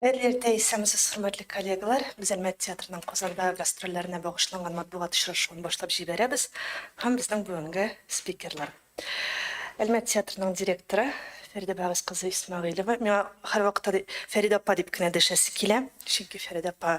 Хәерле иртә, исәнмесез, хөрмәтле коллегалар! Без Әлмәт театрының Казанда гастрольләренә багышланган матбугат очрашуын башлап җибәрәбез һәм безнең бүгенге спикерлар. Әлмәт театрының директоры Фәридә Бәгыйз кызы Исмәгыйлева. Миңа һәрвакытта Фәридә апа дип кенә дәшәсе килә, чөнки Фәридә апа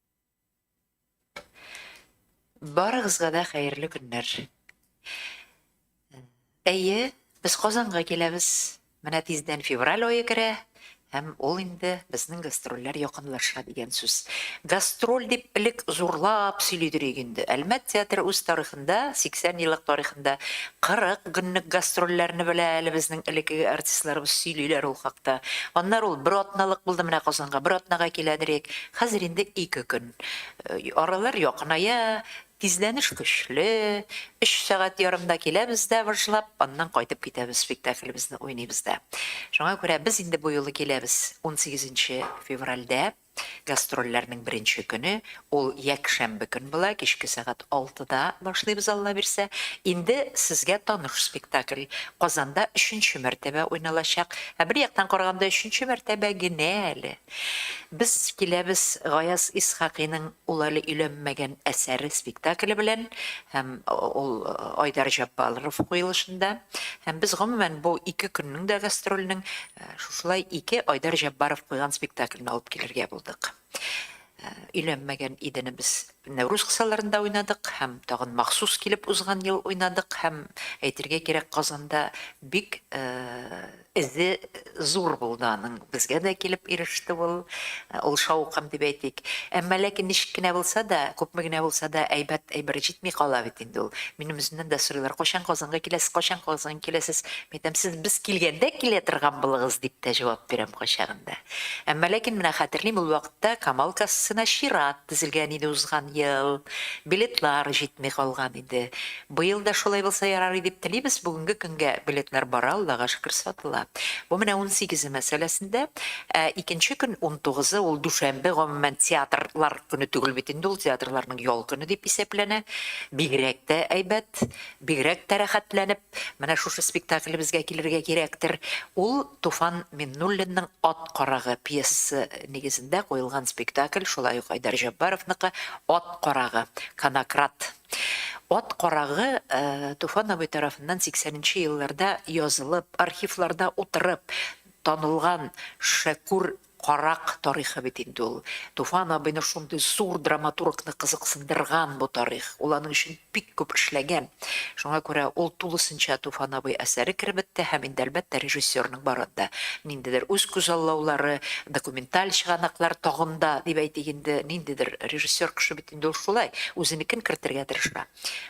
Барыгызга да хәерле көннәр. Әйе, без Казанга киләбез. Менә тиздән февраль ае керә, һәм ул инде безнең гастрольләр якынлаша дигән сүз. Гастроль дип элек зурлап сөйлидер идек инде. Әлмәт театры үз тарихында, 80 еллык тарихында 40 көнлек гастрольләрне белә әле безнең элеккеге артистларыбыз сөйлиләр ул хакта. Аннары ул бер атналык булды менә Казанга, бер атнага киләдер идек. Хәзер инде ике көн аралар якыная, тизләнеш көчле, өч сәгать ярымда киләбез дә выжлап, аннан кайтып китәбез, спектаклебезне уйныйбыз да. Шуңа күрә без инде бу юлы киләбез унсигезенче февральдә, гастрольләрнең беренче көне, ул якшәмбе көн була, кичке сәгать алтыда башлыйбыз, Алла бирсә. Инде сезгә таныш спектакль, Казанда өченче мәртәбә уйналачак. Ә бер яктан караганда өченче мәртәбә генә әле. Без киләбез Гаяз Исхакыйның Ул әле өйләнмәгән әсәре спектакле белән һәм ул Айдар Җәббалров куелышында. Һәм без гомумән бу ике көннең дә гастрольнең шушылай ике Айдар Җәббаров куйган спектаклен алып килергә булдык. Өйләнмәгән идене без Нәүрүз кысаларында уйнадык һәм тагын махсус килеп узган ел уйнадык һәм әйтергә кирәк Казанда бик Эзе зур булды аның. Безгә дә килеп иреште ул. Ул шаукым дип әйтик. Әмма ләкин ничек кенә булса да, күпме генә булса да, әйбәт әйбер җитми кала бит инде ул. Минем үземнән дә сорыйлар, Кайчан Казанга киләсез, кайчан Казанга киләсез? Мин әйтәм, Сез без килгәндә килә торган булыгыз, дип тә җавап бирәм кайчагында. Әмма ләкин менә хәтерлим, ул вакытта Камал кассасына чират тезелгән иде узган ел. Билетлар җитми калган иде. Быел да шулай булса ярар и дип телибез, бүгенге көнгә билетлар бара, Аллага шөкер, сатыла. Бу менә унсигезе мәсьәләсендә. Ә икенче көн, унтугызы, ул дүшәмбе, гомумән, театр лар көне түгел бит инде ул, театрларның ял көне дип исәпләнә. Бигрәк тә әйбәт, бигрәк тә рәхәтләнеп менә шушы спектаклебезгә килергә кирәктер. Ул Туфан Миннуллинның Ат карагы пьесасы нигезендә куелган спектакль, шулай ук Айдар Җәббаровныкы Ат карагы, Конократ. Ат карагы Туфан абый тарафыннан сиксәненче елларда язылып, архивларда утырып танылган Шәкүр карак тарихы бит инде ул. Туфан абыйны шундый зур драматургны кызыксындырган бу тарих, ул аның өчен бик күп эшләгән. Шуңа күрә ул тулысынча Туфан абый әсәре керебеттә һәм инде, әлбәттә, режиссерның барын да ниндидер үз күзаллаулары, документаль чыганаклар тагын да, дип әйтик инде, ниндидер режиссер кеше бит. Инде ул шулай, үзенекен кертергә тырыша.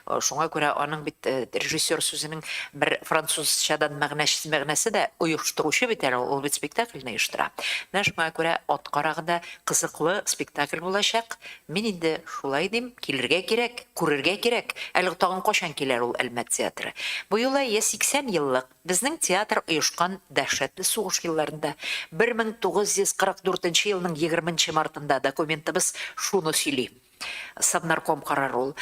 Шуңа күрә аның бит режиссер сүзенең бер французчадан мәгънәчсез мәгънәсе дә, оештыручы бит әле ул, ул бит спектакльне оештыра. Менә шуңа күрә ат карагы да кызыклы спектакль булачак. Мин инде шулай дим, килергә кирәк, күрергә кирәк. Әле тагын кайчан киләр ул Әлмәт театры? Бу юлы йә 80 еллык, Безнең театр оешкан дәһшәтле сугыш елларында, 1944 нче елның 20 нче мартында, документыбыз шуны сөйли, Совнарком карары ул.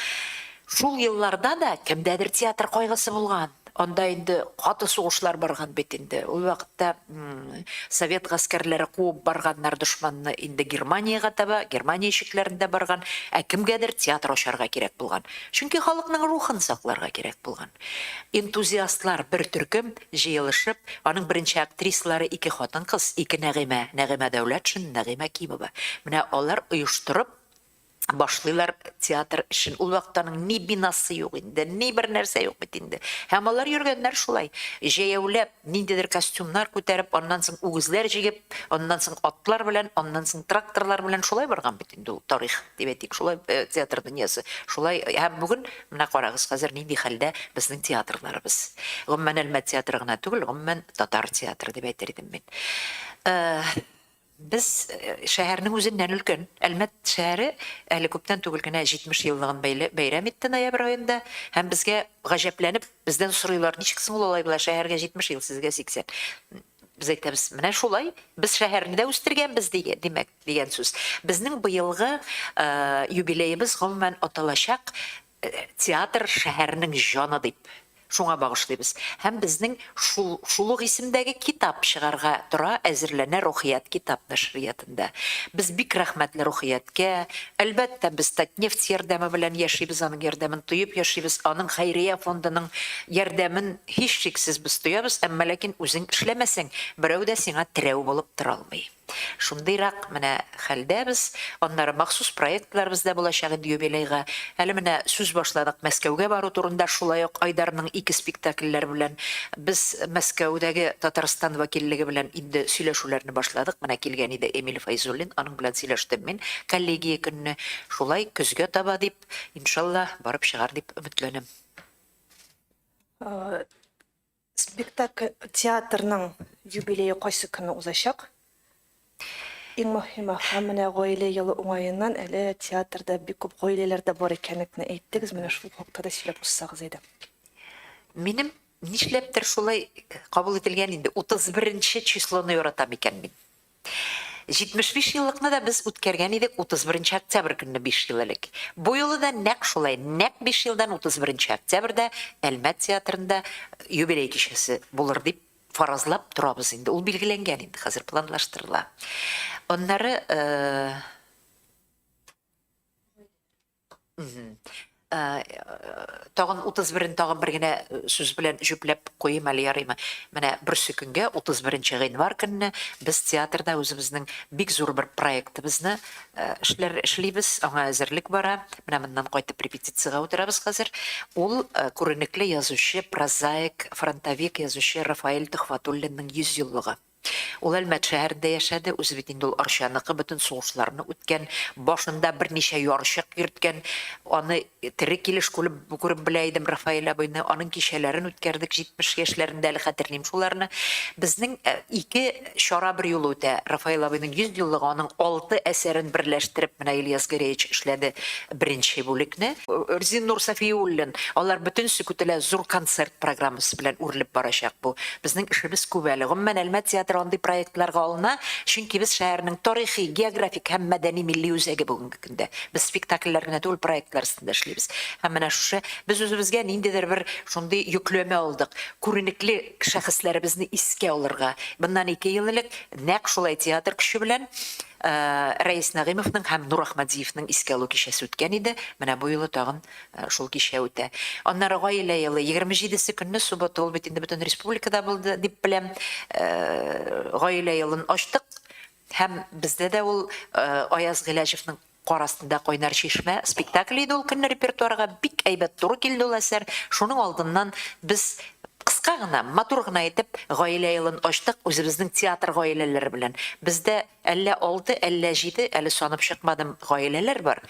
Шул елларда да кемдәдер театр кайгысы булган. Анда инде каты сугышлар барган бит инде. Ул вакытта совет гаскәрләре куып барганнар дошманны инде Германиягә таба, Германия ишекләрендә барган. Ә кемгәдер театр ачарга кирәк булган. Чөнки халыкның рухын сакларга кирәк булган. Энтузиастлар бер төркем җыелышып, аның беренче актрисалары ике хатын-кыз, ике Нәгыймә, Нәгыймә Дәүләтшин, Нәгыймә Кимова. Менә алар оештырып башлыйлар театр эшен. Ул вакытта аның ни бинасы юк инде, ни бер нәрсә юк бит инде. Һәм алар йөргәннәр шулай, җәяүләп. Ниндидер костюмнар күтәреп, аннан соң үгезләр җигеп, аннан соң атлар белән, аннан соң тракторлар белән шулай барган бит инде ул тарих, дип әйтик, шулай театр дөньясы, шулай һәм бүген менә карагыз, хәзер нинди хәлдә безнең театрларыбыз. Гомумән Әлмәт театры гына түгел, гомумән татар театры дип әйтер идем мин. Без шәһәрнең үзеннән өлкән. Әлмәт шәһәре әле күптән түгел генә 70 еллыгын бәйрәм итте ноябрь аенда һәм безгә гаҗәпләнеп бездән сорыйлар, ничек соң ул алай була, шәһәргә 70 ел, сезгә 80. Без әйтәбез, менә шулай, без шәһәрне дә үстергәнбез, димәк, дигән сүз. Безнең быелгы юбилеебыз гомумән аталачак Театр, шәһәрнең җаны дип, шуңа багышлыйбыз. Һәм безнең шул шул ук исемдәге китап чыгарга тора, әзерләнә Рухият китап нәшриятында. Без бик рәхмәтле Рухияткә. Әлбәттә, без Татнефть ярдәме белән яшибез, аның ярдәмен тоеп яшибез, аның хәйрия фондының ярдәмен һичшиксез без тоябыз, әмма ләкин үзең эшләмәсәң, берәү дә сиңа терәү булып тора алмый. Шундыйрак менә хәлдә без, аннары махсус проектларыбыз да булачак инде юбилейга. Әле менә сүз башладык Мәскәүгә бару турында, шулай ук Айдарның ике спектакльләре белән без Мәскәүдәге Татарстан вәкиллеге белән инде сөйләшүләрне башладык. Менә килгән иде Эмиль Фәйзуллин, аның белән сөйләштем мин коллегия көнне. Шулай көзгә таба дип, иншаллаһ, барып чыгар дип өметләнәм. Спектакль театрның юбилее кайсы көнне узачак? Иң мөһиме, һәм менә гаилә елы уңаеннан әле театрда бик күп гаиләләр дә бар икәнлекне әйттегез, менә шул хакта да сөйләп узсагыз иде. Минем нишләптер шулай кабул ителгән инде, утыз беренче числоны яратам икән мин. 75 еллыкны да без үткәргән идек 31 октябрь көнне биш ел элек. Бу юлы да нәкъ шулай, нәкъ биш елдан 31 октябрьдә Әлмәт театрында юбилей кичәсе булыр дип фаразлап торабыз инде. Ул билгеләнгән инде, хәзер планлаштырыла. Аннары Тагын 31-н тагын бер генә сүз белән җөпләп куйыйм әле, ярыймы? Менә берсе көнгә, 31 нче гыйнвар көнне без театрда үзебезнең бик зур бер проектыбызны эшләр эшлибез, аңа әзерлек бара. Менә моннан кайтып репетициягә утырабыз хәзер. Ул күренекле язучы, прозаик, фронтовик язучы Рафаэль Төхвәтуллинның 100 еллыгы. Ул Әлмәт шәһәрендә яшәде, үзе бит инде ул Арчаныкы, бөтен сугышларны үткән, башында берничә ярчык йөрткән, аны тере килеш күреп белә идем Рафаэль абыйны, аның кичәләрен үткәрдек, 70 яшьләрендә әле хәтерлим шуларны. Безнең ике чара берьюлы үтә, Рафаэль абыйның 100 еллыгы, аның алты әсәрен берләштереп менә Ильяс Гәрәевич эшләде, Беренче бүлекне. Рзиннур Сафиуллин, алар бөтен се көтелә зур концерт программасы белән үрелеп барачак бу. Безнең эшебез күп әле. Гомумән, Әлмәт театры андый проектларга алына, чөнки без шәһәрнең тарихи, географик һәм мәдәни-милли үзәге бүгенге көндә. Без спектакльләр генә түгел, проектлар өстендә эшлибез. Һәм менә шушы без үзебезгә ниндидер бер шундый йөкләмә алдык, күренекле шәхесләребезне искә алырга. Моннан ике ел элек нәкъ шулай театр көче белән Рәис Нәгыймовның һәм Нур Ахмадзиевның искә алу кичәсе үткән иде, менә бу юлы тагын шул кичә үтә. Аннары Гаилә елы, 27 се көнне, суббота, ул бит инде бөтен республикада булды, дип беләм, Гаилә елын ачтык һәм бездә дә ул Аяз Гыйләҗевның Кар астында кайнар чишмә спектакле иде, ул көнне репертуарга бик әйбәт туры килде ул әсәр, шуның алдыннан без Кыска гына, матур гына итеп гаилә елын ачтык үзебезнең театр гаиләләре белән. Бездә әллә алты, әллә җиде, әле санап чыкмадым, гаиләләр бар.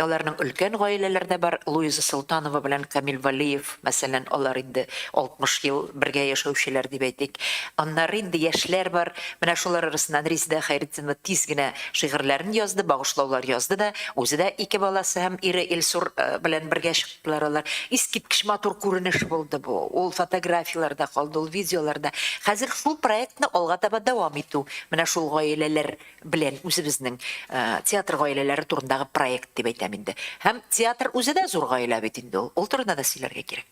Аларның өлкән гаиләләр дә бар, Луиза Солтанова белән Камил Вәлиев, мәсәлән, алар инде 60 ел бергә яшәүчеләр дип әйтик. Аннары инде яшьләр бар, менә шулар арасыннан Резидә Хәйретдинова тиз генә шигырьләрен язды, багышлаулар язды да, үзе дә ике баласы һәм ире Илсур белән бергә чыкты. Ларалар. Искиткеч матур күренеш булды бу. Ул фотографияләрдә калды, ул видеоларда. Хәзер шул проектны алга таба дәвам итү. Менә шул гаиләләр белән үзебезнең театр гаиләләре турындагы проект дип әйтәм инде. Һәм театр үзе дә зур гаилә бит инде ул. Ул турында да сөйләргә кирәк.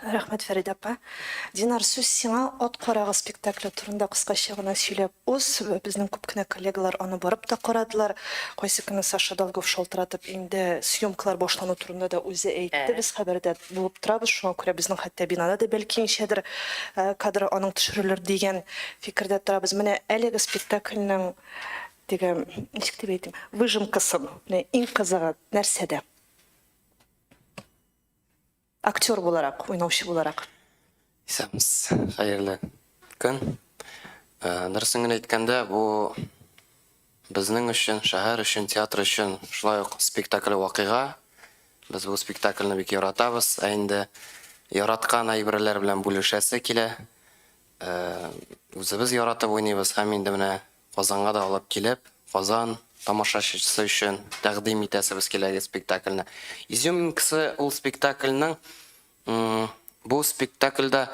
Рәхмәт, Фәридә апа. Динар, сүз сиңа. Ат карагы спектакле турында кыскача гына сөйләп уз. Безнең күп кенә коллегалар аны барып та карадылар. Кайсы көнне Саша Долгов шалтыратып, инде съемкалар башлану турында да үзе әйтте. Без хәбәрдә булып торабыз, шуңа күрә безнең хәтта бинада да бәлки ничәдер кадр аның төшерелер дигән фикердә торабыз. Менә әлеге спектакльнең теге, ничек дип әйтим, выжимкасын, менә иң кызыгы нәрсәдә? Актер буларак, уйнаучы буларак. Исәпмс, хәерле көн. Дөресен генә әйткәндә, бу безнең өчен, шәһәр өчен, театр өчен шулай ук спектакль вакыйга. Без бу спектакльне бик яратабыз. Ә инде яраткан әйберләр белән бүлешәсе килә. Үзебез яратып уйныйбыз һәм инде менә Казанга да алып килеп, Казан тамашачысы өчен тәкъдим итәсебез киләге спектакльне. Изюминкасы ул спектакльнең бу спектакльдә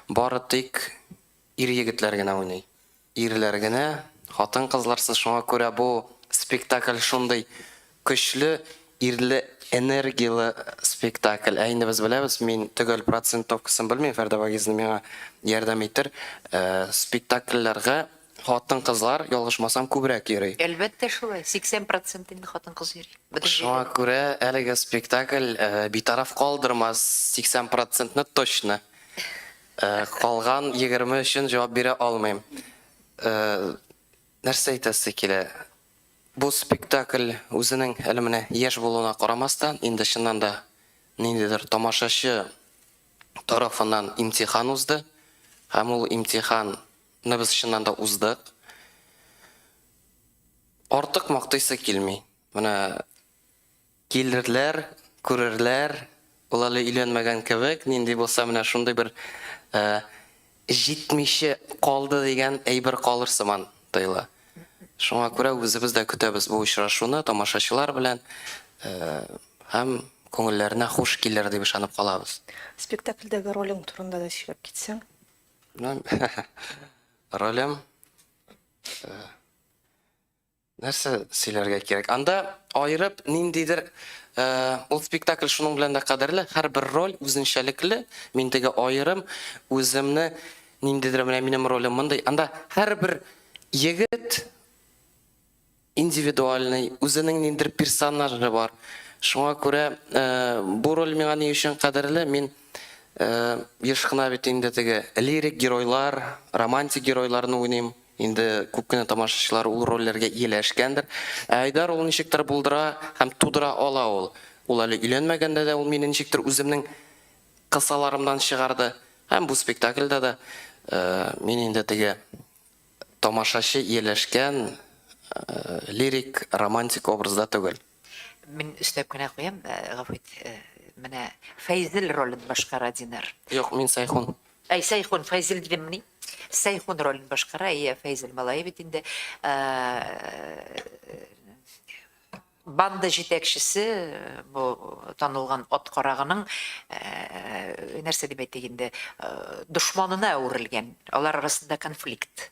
бары тик ир-егетләр генә уйный. Ирләр генә, хатын-кызларсыз, шуңа күрә бу спектакль шундый Көчле, ирле, энергияле спектакль. Ә инде без беләбез, мин төгәл процентовкасын белмим, Фәрдә Вагизовна миңа ярдәм итер, спектакльләргә хатын-кызлар, ялгышмасам, күбрәк йөри. Әлбәттә шулай, 80 процент инде хатын-кыз йөри. Шуңа күрә әлеге спектакль битараф калдырмас, 80 процентны точно. Калган 20 өчен җавап бирә алмыйм. Нәрсә әйтәсе килә, Бу спектакль үзенең әле менә яшь булуына карамастан, инде чыннан да ниндидер тамашачы тарафыннан имтихан узды. Һәм ул имтиханны без чыннан да уздык. Артык мактыйсы килми. Менә Килерләр, күрерләр, ул әле өйләнмәгән кебек, нинди булса менә шундый бер җитмичә калды дигән әйбер калыр сыман тоела. Шуңа күрә үзебез дә көтәбез бу очрашуны тамашачылар белән һәм күңелләренә хуш килер дип ышанып калабыз. Спектакльдәге ролең турында да сөйләп китсәң. Ролем Нәрсә сөйләргә кирәк? Анда аерып ниндидер ул спектакль шуның белән дә кадерле, һәрбер роль үзенчәлекле, мин теге аерым үземне ниндидер менә минем ролем мондый. Анда һәрбер егет индивидуальный, үзенең ниндидер персонажы бар. Шуңа күрә бу роль миңа ни өчен кадерле? Мин еш кына бит инде теге лирик геройлар, романтик геройларны уйныйм. Инде күп кенә тамашачылар ул рольләргә ияләшкәндер. Ә Айдар ул ничектер булдыра һәм тудыра ала ул. Ул әле өйләнмәгәндә дә ул мине ничектер үземнең кысаларымнан чыгарды. Һәм бу спектакльдә дә мин инде теге тамашачы ияләшкән лирик, романтик образда түгел. Мин өстәп кенә куям, э, гафу ит, э, менә Фәйзел ролен башкара Динар. Юк, мин Сайхун. Әй, Сайхун, Фәйзел дидеммени? Сайхун ролен башкара, әйе, Фәйзел малае бит инде. Э, Банда җитәкчесе, э, бу танылган ат карагының э, нәрсә дип әйтик инде, э, дошманына әверелгән. Алар арасында конфликт.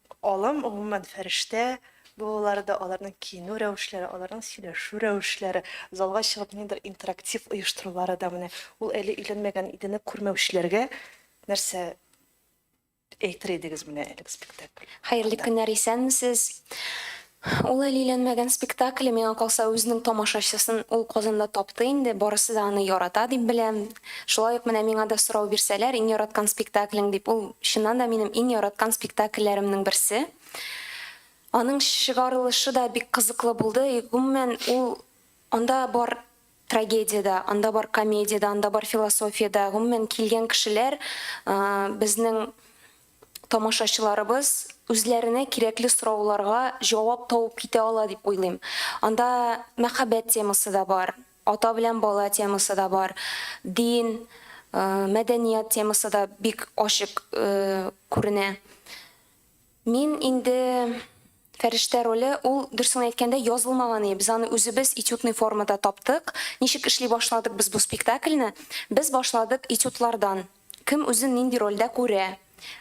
Алым, гомумән, фәрештә булулары да, аларның киенү рәвешләре, аларның сөйләшү рәвешләре, залга чыгып ниндидер интерактив оештырулары да менә ул әле өйләнмәгән Идене күрмәүчеләргә нәрсә әйтер идегез менә әлеге спектакль хакында? Хәерле көннәр, исәнмесез! Ул әле өйләнмәгән спектакле, миңа калса, үзенең тамашачысын ул Казанда тапты инде, барысы да аны ярата дип беләм. Шулай ук менә миңа да сорау бирсәләр, иң яраткан спектаклең дип, ул чыннан да минем иң яраткан спектакльләремнең берсе. Аның чыгарылышы да бик кызыклы булды, гомумән, ул анда бар трагедия дә, анда бар комедия дә, анда бар философия дә, гомумән, килгән кешеләр безнең тамашачыларыбыз үзләренә кирәкле сорауларга җавап табып китә ала дип уйлыйм. Анда мәхәббәт темасы да бар, ата белән бала темасы да бар, дин, мәдәният темасы да бик ачык күренә. Мин инде. Фәрештә роле, ул, дөресен әйткәндә, язылмаган иде. Без аны үзебез этюдный формада таптык. Ничек эшли башладык без бу спектакльне? Без башладык этюдлардан. Кем үзен нинди рольдә күрә.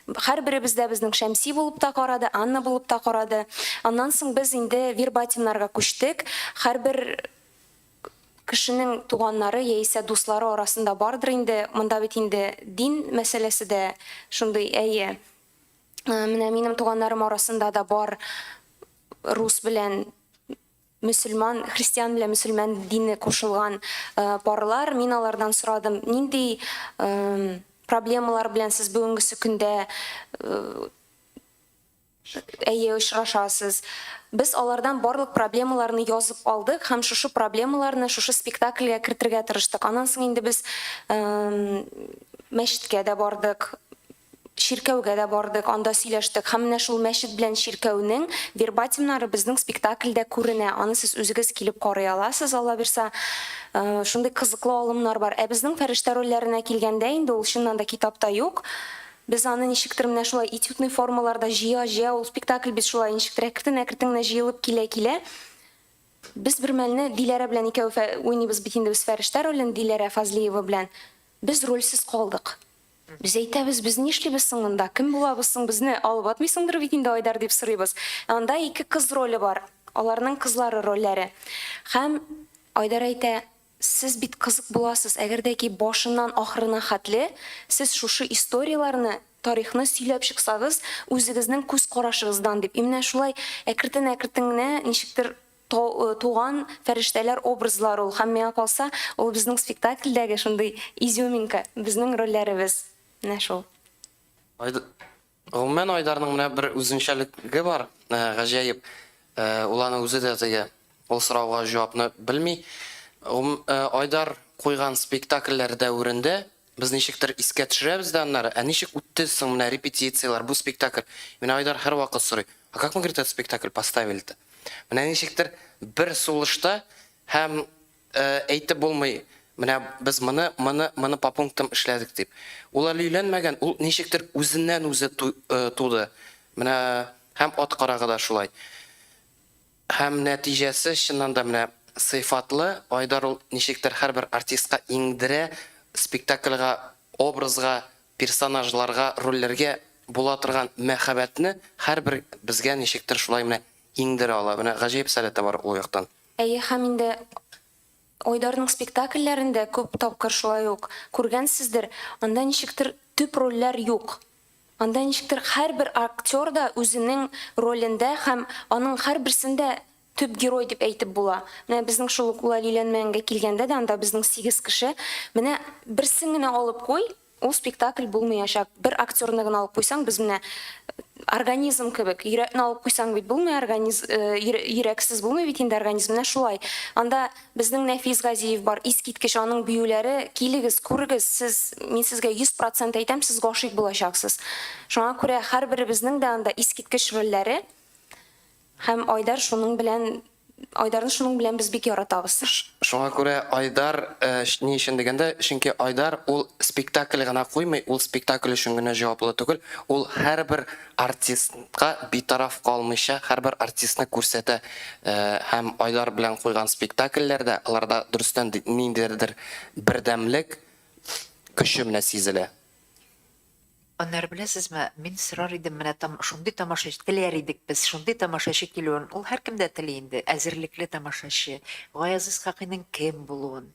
Һәрберебез дә безнең Шәмси булып та карады, Анна булып та карады. Аннан соң без инде вербатимнарга күчтек. Һәрбер кешенең туганнары яисә дуслары арасында бардыр инде. Монда бит инде дин мәсьәләсе дә шундый, әйе. Э, менә минем туганнарым арасында да бар рус белән мөселман христиан белән мөселман дине кушылган э, парлар мин алардан сорадым нинди э, проблемалар белән сез бүгенгесе көндә әйе очрашасыз без алардан барлык проблемаларны язып алдык һәм шушы проблемаларны шушы спектакльгә кертергә тырыштык аннан соң инде без мәчеткә дә бардык чиркәүгә дә бардык, анда сөйләштек һәм менә шул мәчет белән чиркәүнең вербатимнары безнең спектакльдә күренә. Аны сез үзегез килеп карый аласыз, Алла бирса. Э, шундый кызыклы алымнар бар. Ә безнең фәрештә рольләренә килгәндә инде ул чыннан да китапта юк. Без аны ничектер менә шулай этюдный формаларда җыя-җыя ул спектакль без шулай ничектер әкрен-әкрен генә җыелып килә-килә без бер мәлне Диләрә белән икәү уйныйбыз бит инде без фәрештә ролен Диләрә Фазлиева белән. Без рольсез калдык. Без әйтәбез, без нишлибез соң монда, кем булабыз соң, безне алып атмыйсыңдыр бит инде, Айдар, дип сорыйбыз. Ә анда ике кыз роле бар, аларның кызлары рольләре. Һәм Айдар әйтә, Сез бит кызык буласыз, әгәр дә ки башыннан ахырына хәтле сез шушы историяләрне, тарихны сөйләп чыксагыз, үзегезнең күз карашыгыздан, дип. И менә шулай әкертен-әкертен генә ничектер То, туган фәрештәләр образлар ул һәм миңа калса, ул безнең спектакльдәге шундый изюминка, безнең рольләребез. Менә шул. Айд Гомумән, Айдарның менә бер үзенчәлеге бар, гаҗәеп, ул аны үзе дә тыя, ул сорауга җавапны белми. Гом Айдар куйган спектакльләр дәверендә Без ничектер искә төшерәбез дә аннары, Ә ничек үтте соң менә репетицияләр, бу спектакль? Мине Айдар һәрвакыт сорый, А как мы, говорит, этот спектакль поставили-то? Менә ничектер бер сулышта һәм әйтеп булмый, менә без моны, моны, моны по пунктам эшләдек дип. Ул әле өйләнмәгән, ул ничектер үзеннән-үзе туды. Менә һәм ат карагы да шулай. Һәм нәтиҗәсе чыннан да менә сыйфатлы, Айдар ул ничектер һәрбер артистка иңдерә, спектакльга, образга, персонажларга, рольләргә була торган мәхәббәтне һәрбер безгә ничектер шулай менә иңдерә ала, менә гаҗәеп сәләте бар ул яктан. Әйе, һәм инде Айдарның спектакльләрен дә күп тапкыр шулай ук күргәнсездер, анда ничектер төп рольләр юк. Анда ничектер һәрбер актер да үзенең ролендә һәм аның һәрберсен дә төп герой дип әйтеп була. Менә безнең шул ук Улалиләнмәңгә килгәндә дә анда безнең сигез кеше. Менә берсен генә алып куй, Ул спектакль булмыячак. Бер актерны гына алып куйсаң, без менә организм кебек, йөрәкне алып куйсаң бит булмый, организм йөрәксез булмый бит инде организм. Менә шулай. Анда безнең Нәфис Газиев бар, искиткеч аның биюләре. Килегез, күрегез, сез, мин сезгә 100% әйтәм, сез гашыйк булачаксыз. Шуңа күрә һәрберебезнең дә анда искиткеч рольләре. Һәм Айдар шуның белән Айдарны шуның белән без бик яратабыз. Шуңа күрә Айдар ни өчен дигәндә, чөнки Айдар ул спектакль гына куймый, ул спектакль өчен генә җаваплы түгел, ул һәрбер артистка битараф калмыйча, һәрбер артистны күрсәтә һәм Айдар белән куйган спектакльләрдә, аларда дөрестән дә ниндидер бердәмлек көче менә сизелә. Аннары беләсезме, мин сорар идем, менә там шундый тамашачы, теләр идек без, шундый тамашачы килүен, ул һәркем дә тели инде, әзерлекле тамашачы, Гаяз Исхакыйның кем булуын,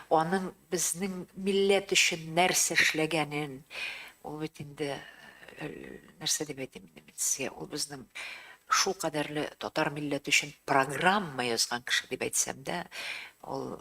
аның безнең милләт өчен нәрсә эшләгәнен, ул бит инде, нәрсә дип әйтим инде мин сезгә, ул безнең шул кадәрле татар милләте өчен программа язган кеше дип әйтсәм дә, ул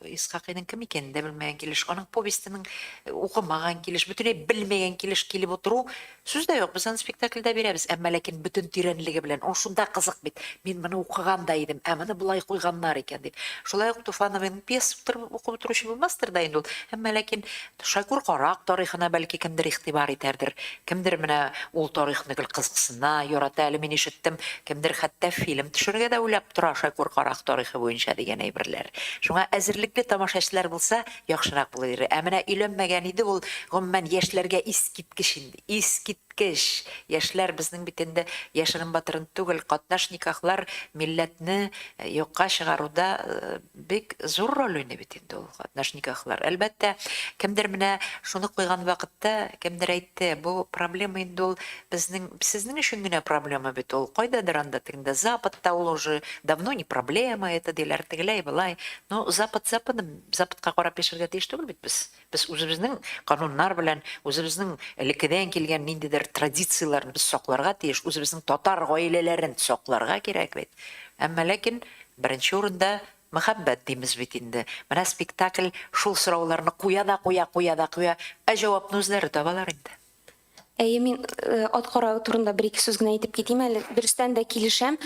Исхакыйның кем икәнен дә белмәгән килеш, аның повестенең э, укымаган килеш, бөтенләй белмәгән килеш килеп утыру сүз дә юк. Без аны спектакльдә бирәбез, әмма ләкин бөтен тирәнлеге белән. Ул шунда кызык бит. Мин моны укыган да идем, ә моны болай куйганнар икән дип. Шулай ук Туфановның пьеса укып утыручы булмастыр да инде ул. Әмма ләкин Шәкүр карак тарихына бәлки кемдер игътибар итәрдер, кемдер менә ул тарихны гел кызыксына, ярата әле, мин ишеттем, кемдер хәтта фильм төшерергә дә уйлап тора Шәкүр карак тарихы буенча дигән әйберләр. Шуңа әзерлекле тамашачылар булса, яхшырак булыр иде. Ә менә өйләнмәгән иде ул, гомумән, яшьләргә искиткеч инде, искиткеч! Яшьләр, безнең бит инде яшерен-батырын түгел, катнаш никахлар милләтне юкка чыгаруда Бик зур роль уйный бит инде ул катнаш никахлар. Әлбәттә, кемдер менә шуны куйган вакытта, кемдер әйтте, бу проблема инде ул безнең, сезнең өчен генә проблема бит ул, кайдадыр анда тегендә Западта ул уже давно не проблема это диләр, тегеләй-болай. Ну, Запад Западым, Западка карап яшәргә тиеш түгел бит без. Без үзебезнең кануннар белән, үзебезнең элеккедән килгән ниндидер традицияләрне без сакларга тиеш, үзебезнең татар гаиләләрен сакларга кирәк бит. Әмма ләкин беренче урында мәхәббәт димез бит инде. Менә спектакль шул сорауларны куя да куя, куя да куя, ә җавапны үзләре табалар инде. Әйе, мин ат каравы турында бер-ике сүз генә әйтеп китим әле. Дөрестән дә килешәм.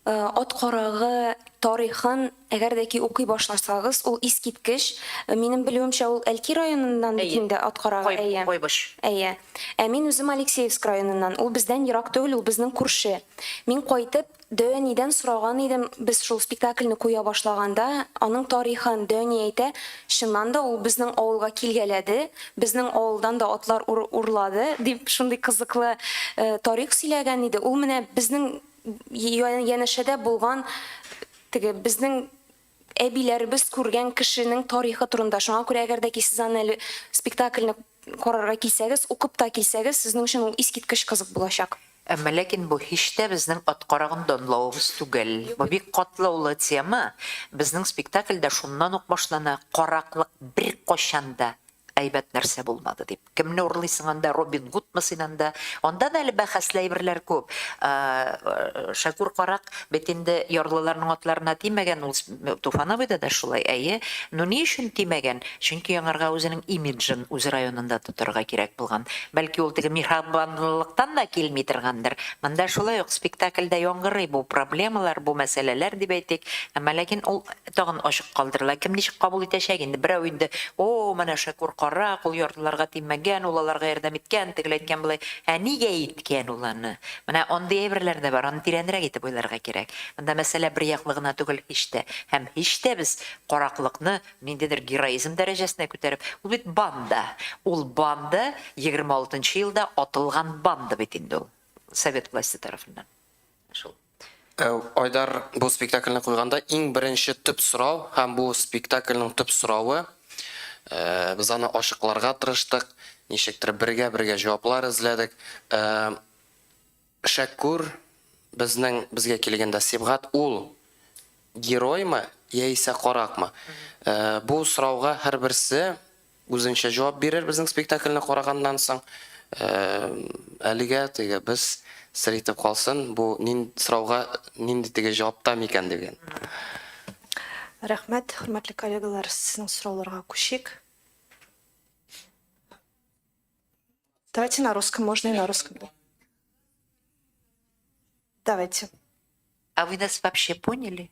Ат карагы тарихын әгәр дә ки укый башласагыз, ул искиткеч. Минем белүемчә, ул Әлки районыннан бит инде ат карагы, әйе. Кайбыч. Әйе. Ә мин үзем Алексеевск районыннан, ул бездән ерак түгел, ул безнең күрше. Мин кайтып, Дәүәнидән сораган идем, без шул спектакльне куя башлаганда, аның тарихын. Дәүәни әйтә, чыннан да ул безнең авылга килгәләде, безнең авылдан да атлар урлады, дип шундый кызыклы тарих сөйләгән иде. Ул менә безнең Янәшәдә булган теге безнең әбиләребез күргән кешенең тарихы турында. Шуңа күрә әгәр дә ки сез аны әле спектакльне карарга килсәгез, укып та килсәгез, сезнең өчен ул искиткеч кызык булачак. Әмма ләкин бу һич тә безнең ат карагын данлавыбыз түгел. Бу бик катлаулы тема. Безнең спектакльдә шуннан ук башлана, караклык беркайчан да Әйбәт нәрсә булмады дип. Кемне урлыйсың анда, Робин Гудмы син анда? Анда да әле бәхәсле әйберләр күп. Шәкүр карак бит инде ярлыларның атларына тимәгән, ул Туфановыйда да шулай, әйе. Ну ни өчен тимәгән? Чөнки аңарга үзенең имиджын үз районында тотарга кирәк булган. Бәлки ул теге миһрабанлылыктан да килми торгандыр. Монда шулай ук спектакльдә яңгырый бу проблемалар, бу мәсьәләләр дип әйтик. Әмма ләкин ул Тагын ачык калдырыла. Кем ничек кабул итәчәк инде. Берәү инде, О, менә Шәкүр карак, ул ярлыларга тимәгән, ул аларга ярдәм иткән, тегеләй иткән, болай. Ә нигә иткән ул аны? Менә андый әйберләр дә бар, аны тирәнрәк итеп уйларга кирәк. Монда мәсьәлә бер яклы гына түгел һич тә. Һәм һич тә без караклыкны ниндидер героизм дәрәҗәсенә күтәреп, ул бит банда. Ул банда, егерме алтынчы елда атылган банда бит инде ул совет власте тарафыннан. Шул. Айдар бу спектакльне куйганда иң беренче төп сорау һәм бу спектакльнең төп соравы, без аны ачыкларга тырыштык, ничектер бергә-бергә җаваплар эзләдек. Шәкүр безнең безгә килгәндә Сибгат ул героймы яисә каракмы? Бу сорауга һәрберсе Үзенчә җавап бирер безнең спектакльне караганнан соң. Әлегә теге без сер итеп калсын, бу нин сорауга нинди теге җавап та микән диген. Рәхмәт, хөрмәтле коллегалар, сезнең сорауларга күчик. Давайте на русском, можно и на русском. Давайте. А вы нас вообще поняли?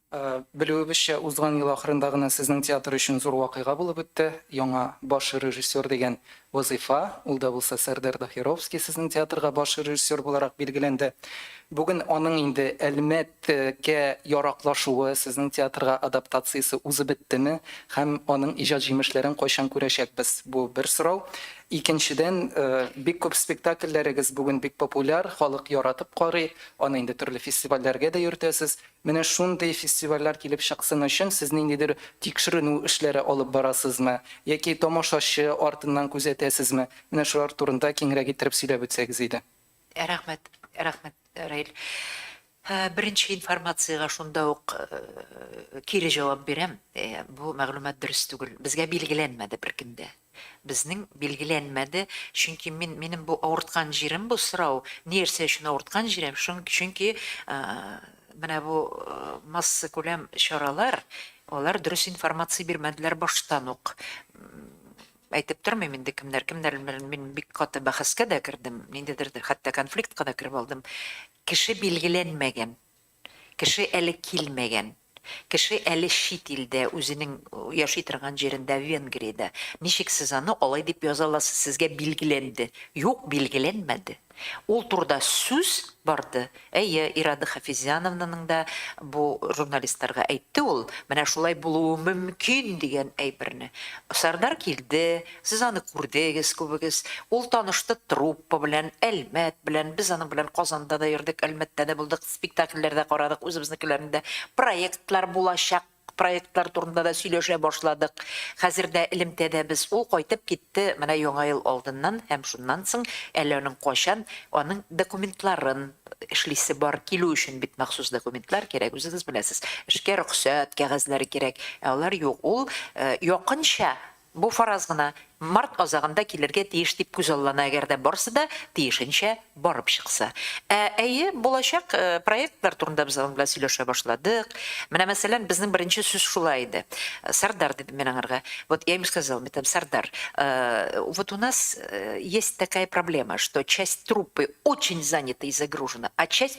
Белүебезчә, узган ел ахырында гына сезнең театр өчен зур вакыйга булып үтте, яңа баш режиссер дигән вазыйфа, ул да булса Сәрдәр Дахировский сезнең театрга баш режиссер буларак билгеләнде. Бүген аның инде Әлмәткә яраклашуы, сезнең театрга адаптациясе узып беттеме һәм аның иҗат җимешләрен кайчан күрәчәкбез? Бу бер сорау. Икенчедән, бик күп спектакльләрегез бүген бик популяр, халык яратып карый, аны инде төрле фестивальләргә дә йөртәсез. Менә шундый фестивальләр килеп чыксын өчен сез ниндидер тикшеренү эшләре алып барасызмы? Яки тамашачы артыннан күзәтәсезме? Менә шулар турында киңрәк иттереп сөйләп үтсәгез иде. Рәхмәт, рәхмәт, Раил. Беренче информациягә шунда ук кире җавап бирәм, бу мәгълүмат дөрес түгел. Безгә билгеләнмәде беркем дә. Безнең билгеләнмәде, чөнки мин, минем бу авырткан җирем бу сорау, ни рсә өчен авырткан җирем, шун, чөнки менә бу массакүләм чаралар, алар дөрес информация бирмәделәр баштан ук. Әйтеп тормыйм инде кемнәр, кемнәр белән мин бик каты бәхәскә дә кердем, ниндидер хәтта конфликтка да кереп алдым. Кеше билгеләнмәгән, Кеше әле килмәгән. Кеше әле чит илдә, үзенең яши торган җирендә, Венгриядә. Ничек сез аны алай дип яза аласыз, сезгә билгеләнде? Юк, билгеләнмәде. Ул турыда сүз барды. Әйе, Ирада Хафизяновнаның да бу журналистларга әйтте ул, менә шулай булуы мөмкин дигән әйберне. Сәрдар килде. Сез аны күрдегез күбегез. Ул танышты труппа белән, Әлмәт белән. Без аның белән Казанда да йөрдек, Әлмәттә дә булдык, спектакльләр дә карадык, үзебезнекеләрне дә. Проектлар, булачак проектлар турында да сөйләшә башладык. Хәзер дә элемтәдә без. Ул кайтып китте менә Яңа ел алдыннан һәм шуннан соң әле аның кайчан аның документларын эшлисе бар. Килү өчен бит махсус документлар кирәк, үзегез беләсез. Эшкә рөхсәт кәгазьләре кирәк. Ә алар юк. Ул якынча Бу фараз гына, март азагында килергә тиеш дип күзаллана, әгәр дә барсы да тиешенчә барып чыкса. Ә, әйе, булачак проектлар турында без аның белән сөйләшә башладык. Менә, мәсәлән, безнең беренче сүз шулай иде. Сәрдар, дидем мин аңарга. Вот я ему сказал, мин әйттем, Сәрдар, вот у нас есть такая проблема, что часть труппы очень занята и загружена, а часть.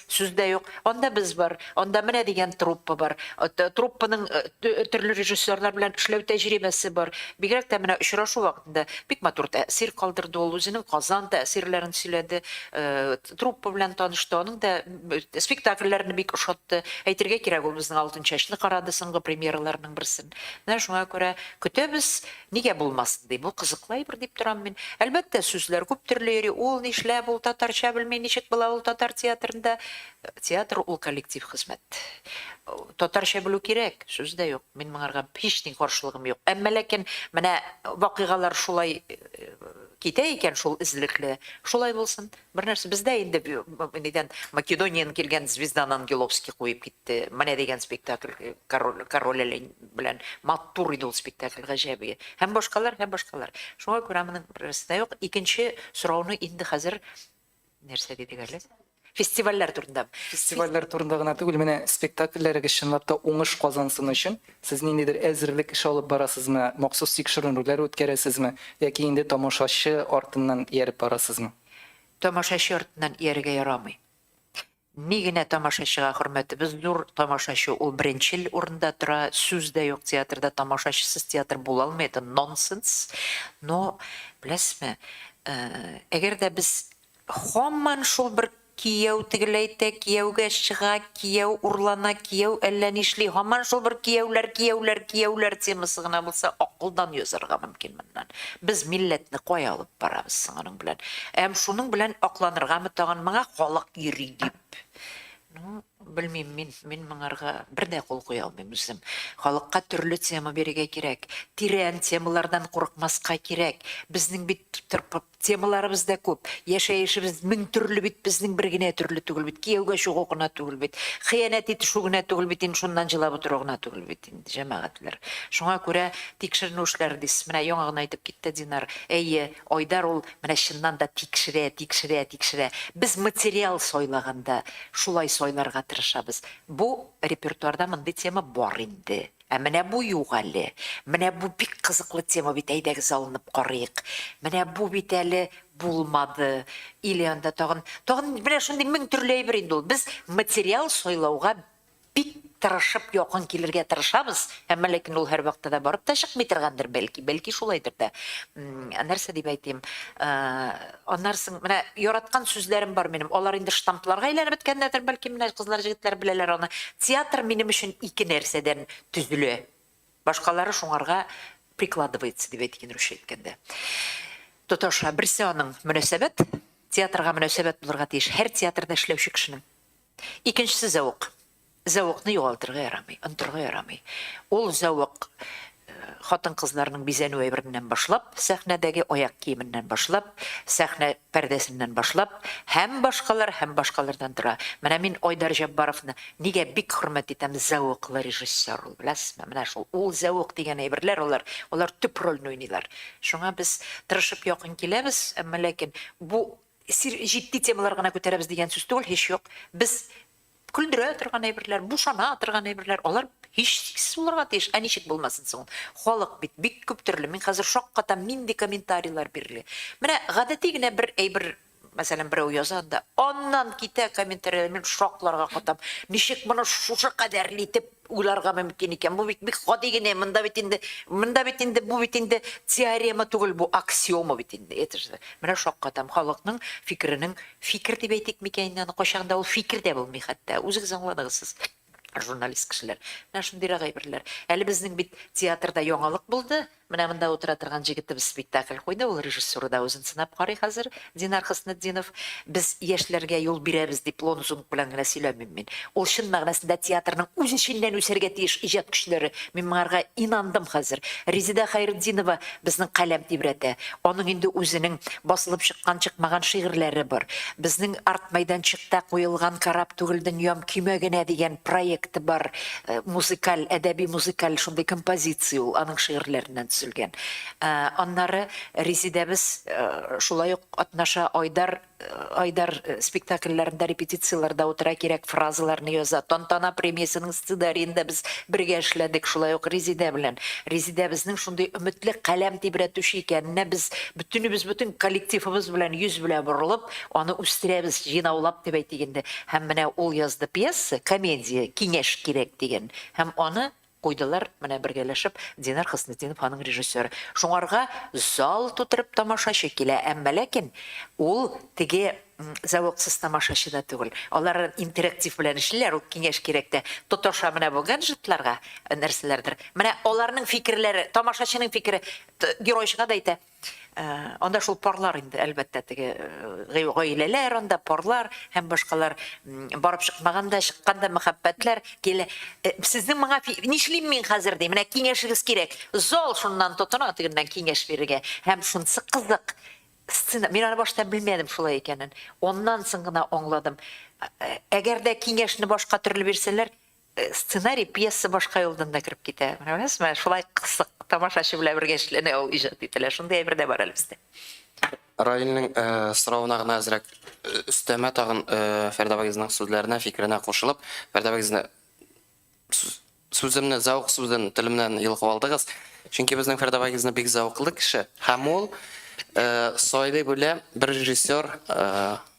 Сүз дә юк. Анда без бар, анда менә дигән труппа бар. Труппаның төрле режиссерлар белән эшләү тәҗрибәсе бар. Бигрәк тә менә очрашу вакытында бик матур тәэсир калдырды ул. Үзенең Казан тәэсирләрен сөйләде, труппа белән танышты. Аның да спектакльләрне бик ошатты. Әйтергә кирәк, ул безнең Алтынчәчне карады, соңгы премьераларының берсен. Менә шуңа күрә көтәбез. Нигә булмасын, ди, бу кызыклы әйбер, дип торам мин. Әлбәттә, сүзләр күп төрле йөри, ул нишләп, ул татарча белми, ничек була ул татар театрында? Театр ул коллектив хезмәт. Татарча белү кирәк, сүз дә юк. Мин моңарга һич ни каршылыгым юк. Әмма ләкин менә вакыйгалар шулай китә икән шул эзлекле, шулай булсын. Бер нәрсә, бездә инде нидән Македониядән килгән Звезданы Ангеловский куеп китте. Менә дигән спектакль король король Олень белән матур иде ул спектакль, гаҗәп иде. Һәм башкалар, һәм башкалар. Шуңа күрә моның берәрсе дә юк. Икенче сорауны инде хәзер нәрсә дидек әле? Фестивальләр турында. Фестивальләр турында гына түгел, менә спектакльләрегез чынлап та уңыш казансын өчен Сез ниндидер әзерлек эше алып барасызмы, махсус тикшеренүләр үткәрәсезме яки инде тамашачы артыннан ияреп барасызмы? Тамашачы артыннан иярергә ярамый. Ни генә тамашачыга хөрмәтебез зур, тамашачы ул беренчел урында тора, сүз дә юк театрда, тамашачысыз театр була алмый, это нонсенс. Но, беләсезме, әгәр дә без һаман шул бер. Кияү тегеләйтә, кияүгә чыга, кияү урлана, кияү әллә нишли, һаман шул бер кияүләр, кияүләр, кияүләр темасы гына булса, акылдан язарга мөмкин моннан. Без милләтне кая алып барабыз соң аның белән? Әм шуның белән акланыргамы тагын моңа халык йөри дип? Ну, белмим мин, мин моңарга бер дә кул куя алмыйм үзем. Халыкка төрле тема бирергә кирәк, тирән темалардан курыкмаска кирәк. Безнең бит тырпы. Темаларыбыз да күп. Яшәешебез мең төрле бит, безнең бер генә төрле түгел бит. Кияүгә чыгу гына түгел бит. Хыянәт итешү генә түгел бит инде, шуннан җылап утыру гына түгел бит инде, җәмәгатьләр. Шуңа күрә тикшеренү эшләре дисез. Менә яңа гына әйтеп китте Динар. Әйе, Айдар ул менә чыннан да тикшерә, тикшерә, тикшерә. Без материал сайлаганда шулай сайларга тырышабыз. Бу репертуарда мондый тема бар инде. Ә менә бу юк әле. Менә бу бик кызыклы тема бит, әйдәгез алынып карыйк. Менә бу бит әле булмады. Или анда тагын, тагын менә шундый мең төрле әйбер инде ул. Без материал сайлауга бик тырышып якын килергә тырышабыз, әмма ләкин ул һәрвакытта да барып та чыкмый торгандыр, бәлки, бәлки шулайдыр да. М, Нәрсә дип әйтим, э, Аннары соң, менә яраткан сүзләрем бар минем, алар инде штампларга әйләнеп беткәннәрдер, бәлки, менә кызлар, җегетләр беләләр аны. Театр минем өчен ике нәрсәдән төзелә. Башкалары шуңарга прикладывается, дип әйтик инде русча әйткәндә. Тоташа. Берсе аның, мөнәсәбәт. Театрга мөнәсәбәт булырга тиеш һәр театрда эшләүче кешенең. Икенчесе зәвык. Зәвыкны югалтырга ярамый, онтырга ярамый. Ул зәвык хатын-кызларның бизәнү әйбереннән башлап, сәхнәдәге аяк киеменнән башлап, сәхнә пәрдәсеннән башлап һәм башкалар, һәм башкалардан тора. Менә мин Айдар Җәббаровны нигә бик хөрмәт итәм, зәвыклы режиссер ул, беләсезме? Менә шул, ул зәвык дигән әйберләр алар, алар төп рольне уйныйлар. Шуңа без тырышып якын киләбез, әмма ләкин бу Сер җитди темалар гына күтәрәбез дигән сүз түгел, һич юк. Без көлдерә торган әйберләр, бушана торган әйберләр, алар һичшиксез булырга тиеш. Ә ничек булмасын соң ул? Халык бит бик күп төрле. Мин хәзер шаккатам, нинди комментарийлар бирелә. Менә гадәти генә бер әйбер, мәсәлән, берәү яза анда, аннан китә комментарийлар, мин шакларга катам. Ничек моны шушы кадәрле итеп Уйларга мөмкин икән, бу бит бик гади генә, монда бит инде, монда бит инде, бу бит инде теорема түгел, бу аксиома бит инде, это же. Менә шаккатам, халыкның фикеренең, фикер дип әйтик микән инде аны, кайчагын да ул фикер дә булмый хәтта, үзегез аңладыгыз сез, журналист кешеләр. Менә шундыйрак әйберләр. Әле безнең бит театрда яңалык булды, Менә монда утыра торган җегетебез спектакль куйды, ул режиссура да үзен сынап карый хәзер, Динар Хөснетдинов. Без яшьләргә юл бирәбез дип лонзунг белән генә сөйләмим мин. Ул чын мәгънәсендә театрның үз эченнән үсәргә тиеш иҗат көчләре. Мин моңарга инандым хәзер. Резеда Хәйретдинова безнең каләм тибрәтә. Аның инде үзенең басылып чыккан-чыкмаган шигырьләре бар. Безнең арт мәйданчыкта куелган Кораб түгел дөньям, көймә генә дигән проекты бар. Музыкаль, әдәби-музыкаль шундый композиция ул, аның шигырьләреннән төзелгән. Аннары Резидәбез шулай ук катнаша, Айдар, Айдар спектакльләрендә репетицияләрдә утыра, кирәк фразаларны яза. Тантана премиясенең сцедариенда без бергә эшләдек, шулай ук Резидә белән. Резидәбезнең шундый өметле, каләм тибрәтүче икәненә без бөтенебез, бөтен коллективыбыз белән йөз белә борылып, Аны үстерәбез, җыйнаулап дип әйтик инде. Һәм менә ул язды пьеса, комедия, Киңәш кирәк дигән. Һәм аны куйдылар, менә бергәләшеп, Динар Хөснетдинов аның режиссеры. Шуңарга зал тутырып тамашачы килә. Әмма ләкин ул теге зәвыксыз тамашачы да түгел. Алар интерактив белән эшлиләр, ул Киңәш кирәктә тоташа менә бу гаджетларга нәрсәләрдер. Менә аларның фикерләре, тамашачының фикере геройчыга да әйтә. Анда шул парлар инде, әлбәттә, теге гаиләләр анда, парлар һәм башкалар барып чыкмаган да, чыккан да мәхәббәтләр килә. Сезнең моңа нишлим мин хәзер ди, менә киңәшегез кирәк. Зал шуннан тотына тегеннән киңәш бирергә. Һәм шунысы кызык, сцена, мин аны башта белмәдем шулай икәнен. Аннан соң гына аңладым. Әгәр дә киңәшне башка төрле бирсәләр, Сценарий пьеса башка юлдан да кереп китә. Менә күрәсезме, шулай кызык, тамашачы белән бергә эшләнә ул, иҗат ителә. Шундый әйбер дә бар әле бездә. Раилнең соравына гына әзрәк өстәмә тагын Фәрдә абыегызның сүзләренә, фикеренә кушылып, Фәрдә абыегызны сүземне зәвык сүзен телемнән йолкып алдыгыз. Чөнки безнең Фәрдә абыегызны бик зәвыклы кеше һәм ул сайлый белә бер режиссер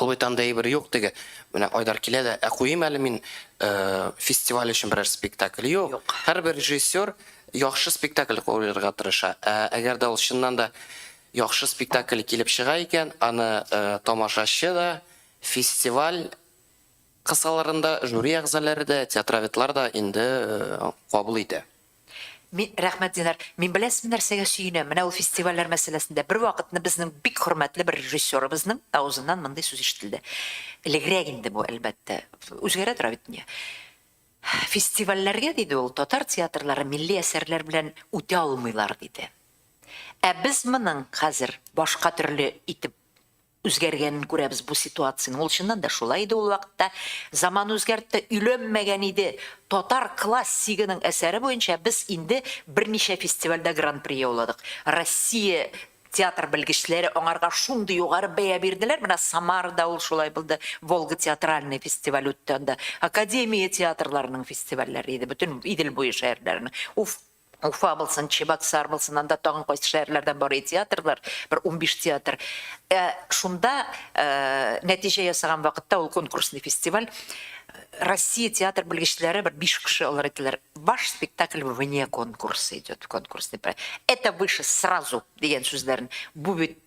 Ул бит андый әйбер юк теге. Менә Айдар килә дә, ә куйыйм әле мин фестиваль өчен берәр спектакль. Юк. Һәрбер режиссер яхшы спектакль куярга тырыша. Ә әгәр дә ул чыннан да яхшы спектакль килеп чыга икән, аны тамашачы да, фестиваль кысаларында жюри әгъзалары да, театроведлар да инде кабул итә. Ми, рәхмәт, Динар. Мин беләсезме нәрсәгә сөенәм, менә ул фестивальләр мәсьәләсендә. Бервакытны безнең бик хөрмәтле бер режиссерыбызның авызыннан мондый сүз ишетелде. Элегрәк инде бу, әлбәттә. Үзгәрә тора бит дөнья. Фестивальләргә, диде ул, татар театрлары милли әсәрләр белән үтә алмыйлар, диде. Ә без моның хәзер башка төрле итеп Үзгәргәнен күрәбез бу ситуациянең. Ул чыннан да шулай иде ул вакытта. Заман үзгәртте, өйләнмәгән иде. Татар класс сигының әсәре буенча без инде берничә фестивальдә гран-при яуладык. Россия театр белгечләре аңарга шундый югары бәя бирделәр, менә Самарада ул шулай булды, Волга театральный фестиваль үтте анда. Академия театрларының фестивальләре иде, бөтен Идел буе шәһәрләренең. Уф, Уфа булсын, Чебоксар булсын, анда тагын кайсы шәһәрләрдән барый театрлар, бер унбиш театр. Ә шунда нәтиҗә ясаган вакытта, ул конкурсный фестиваль, Россия театр белгечләре бер биш кеше алар әйтәләр, ваш спектакль вне конкурса идет, конкурсный проект. Это выше сразу, дигән сүзләрен. Бу бит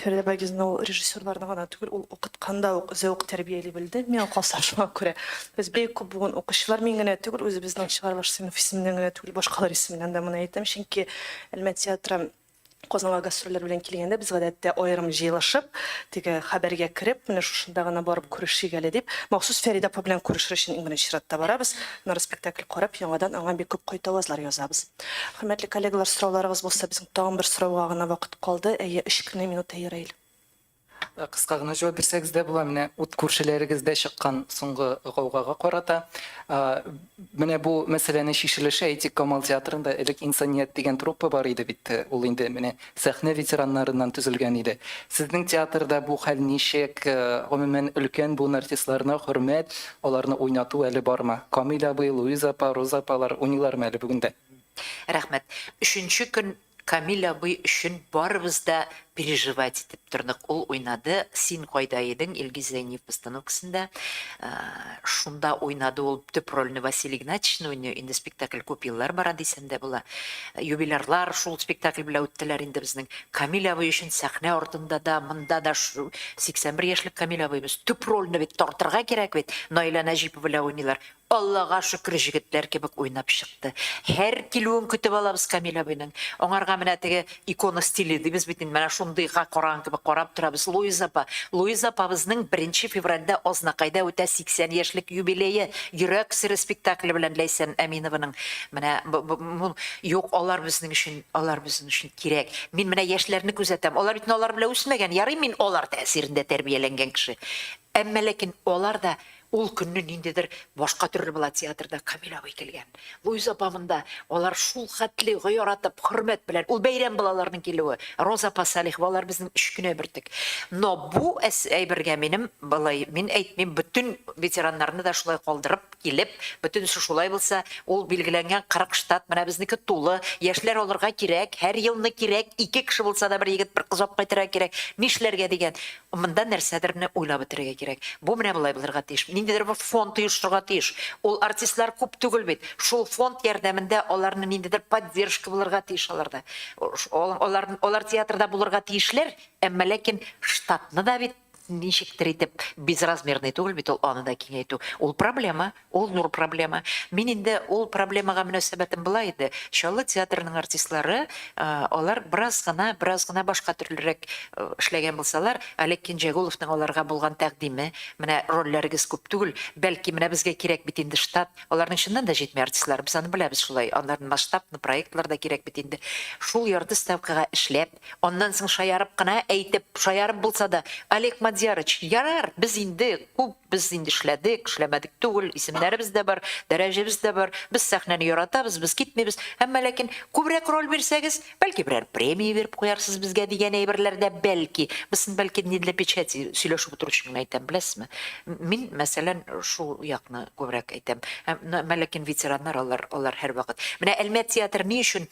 Фәридә Байгизовна ул режиссерларны гына түгел, ул укыткан да ук зәвык тәрбияли белде, миңа калса, шуңа күрә без бик күп бүген укучылар, мин генә түгел, үзебезнең чыгарылыш сыйныф исеменнән генә түгел, башкалар исеменнән дә моны әйтәм, чөнки Әлмәт театры Казанга гастрольләр белән килгәндә, без гадәттә аерым җыелышып, теге хәбәргә кереп, менә шушында гына барып күрешик әле дип, махсус Фәридә апа белән күрешер өчен иң беренче чиратта барабыз, аннары спектакль карап, яңадан аңа бик күп кайтавазлар язабыз. Хөрмәтле коллегалар, сорауларыгыз булса, безнең тагын бер сорауга гына вакыт калды. Әйе, өч кенә минут аерыйл. Кыска гына җавап бирсәгез дә була, менә ут күршеләрегездә чыккан соңгы гаугага карата. Менә бу мәсьәләне чишелеше әйтик, Камал театрында элек Инсаният дигән труппа бар иде бит, ул инде менә Сәхнә ветераннарыннан төзелгән иде. Сезнең театрда бу хәл ничек? Гомумән, өлкән буын артистларына хөрмәт, аларны уйнату әле бармы? Камил абый, Луиза апа, Роза апалар уйныйлармы әле бүген дә? Рәхмәт. Өченче көн Камил абый өчен барыбыз да переживать итеп тордык. Ул уйнады Син кайда идең, Илгиз Зәйниев постановкасында. Шунда уйнады ул төп рольне Василий Игнатьичны уйный, инде спектакль күп еллар бара дисәм дә була. Юбилярлар шул спектакль белән үттеләр инде безнең. Камил абый өчен сәхнә артында да, монда да 81 яшьлек Камил абыебыз. Төп рольне бит тартырга кирәк бит. Наилә Нәҗипова белән уйныйлар. Аллага шөкер, җегетләр кебек уйнап чыкты. Һәр килүен көтеп алабыз Камил абыйның. Аңарга менә теге Икона стиле дибез бит инде, менә шундыйга караган кебек карап торабыз. Луиза апа, Луиза апабызның беренче февральдә Азнакайда үтә 80 яшьлек юбилее, Йөрәк сере спектакле белән Ләйсән Әминованың менә бу, юк, алар безнең өчен, алар безнең өчен кирәк. Мин менә яшьләрне күзәтәм, алар бит инде алар белән үсмәгән, ярый мин алар тәэсирендә тәрбияләнгән кеше. Әмма ләкин алар да ул көнне ниндидер башка төрле була театрда Камил абый килгән. Луиза апа монда, алар шул хәтле гыяратып, хөрмәт белән, ул бәйрәм була аларның килүе, Роза апа Салихова, алар безнең өч кенә бөртек. Но бу әс әйбергә минем былай, мин әйтмим, бөтен ветераннарны да шулай калдырып килеп, бөтенесе шулай булса, ул билгеләнгән 40 штат, менә безнеке тулы, яшьләр алырга кирәк, һәр елны кирәк, ике кеше булса да бер егет, бер кыз алып кайтырга кирәк, нишләргә дигән. Монда нәрсәдерне уйлап бетерергә кирәк. Бу менә болай булырга тиеш. Ниндидер бер фонд оешырга тиеш. Ул артистлар күп түгел бит. Шул фонд ярдәмендә аларны ниндидер поддержка булырга тиеш аларда. Алар алар театрда булырга тиешләр, әмма ләкин штатны да бит ничектер итеп, безразмерный түгел бит ул, аны да киңәйтү. Ул проблема. Ул зур проблема. Мин инде ул проблемага мөнәсәбәтем болай иде, Чаллы театрының артистлары, алар бераз гына, бераз гына башка төрлерәк эшләгән булсалар, Олег Кинҗәгуловның аларга булган тәкъдиме, менә рольләрегез күп түгел, бәлки, менә безгә кирәк бит инде штат, аларның чыннан да җитми артистлары, без аны беләбез шулай, аннары масштаб, проектлар да кирәк бит инде, шул ярты ставкага эшләп, Аннан соң шаярып кына әйтеп, шаярып булса да, Олег Мадьярыч, ярар, без инде күп, без инде эшләдек, эшләмәдек түгел, исемнәребез дә бар, дәрәҗәбез дә бар, без сәхнәне яратабыз, без китмибез, әмма ләкин күбрәк роль бирсәгез, бәлки берәр премия биреп куярсыз безгә дигән әйберләр дә бәлки, бысын бәлки не для печати сөйләшеп утыру өчен генә әйтәм, беләсезме. Мин, мәсәлән, шул якны күбрәк әйтәм. Әмма ләкин ветераннар алар, алар һәрвакыт. Менә Әлмәт театры ни өчен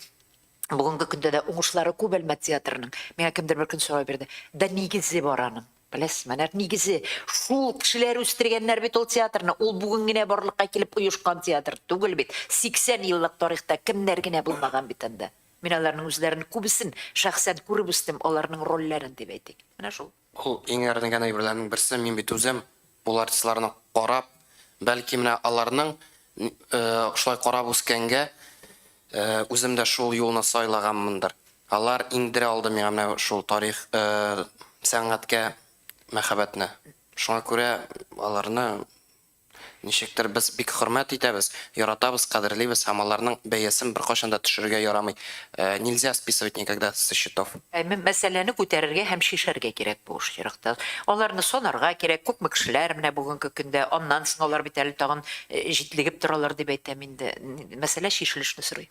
Бүгенге көндә дә уңышлары күп Әлмәт театрының. Миңа кемдер бер көн сорау бирде. Да нигезе бар аның. Беләсезме, нәкъ нигезе. Шул кешеләр үстергәннәр бит ул театрны. Ул бүген генә барлыкка килеп оешкан театр түгел бит. 80 еллык тарихта кемнәр генә булмаган бит анда. Мин аларның үзләрен күбесен шәхсән күреп үстем, аларның рольләрен дип әйтик. Менә шул. Ул иң әрнегән әйберләрнең берсе, мин бит үзем ул артистларны карап, бәлки менә аларның шулай карап үскәнгә, үзем дә шул юлны сайлаганмындыр. Алар иңдерә алды миңа менә шул тарих, сәнгатькә мәхәббәтне. Шуңа күрә аларны Ничектер, без бик хөрмәт итәбез, яратабыз, кадерлибез һәм аларның бәясен беркайчан да төшерергә ярамый. Нельзя списывать никогда со счетов. Ә мәсьәләне күтәрергә һәм чишәргә кирәк бу очракта. Аларны санарга кирәк, күпме кешеләр менә бүгенге көндә, аннан соң алар бит әле тагын җитлегеп торалар дип әйтәм инде. Мәсьәлә чишелешне сорый.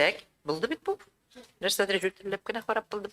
Так, булды бит бу. Нәрсәдер җүтелләп кенә карап булдым.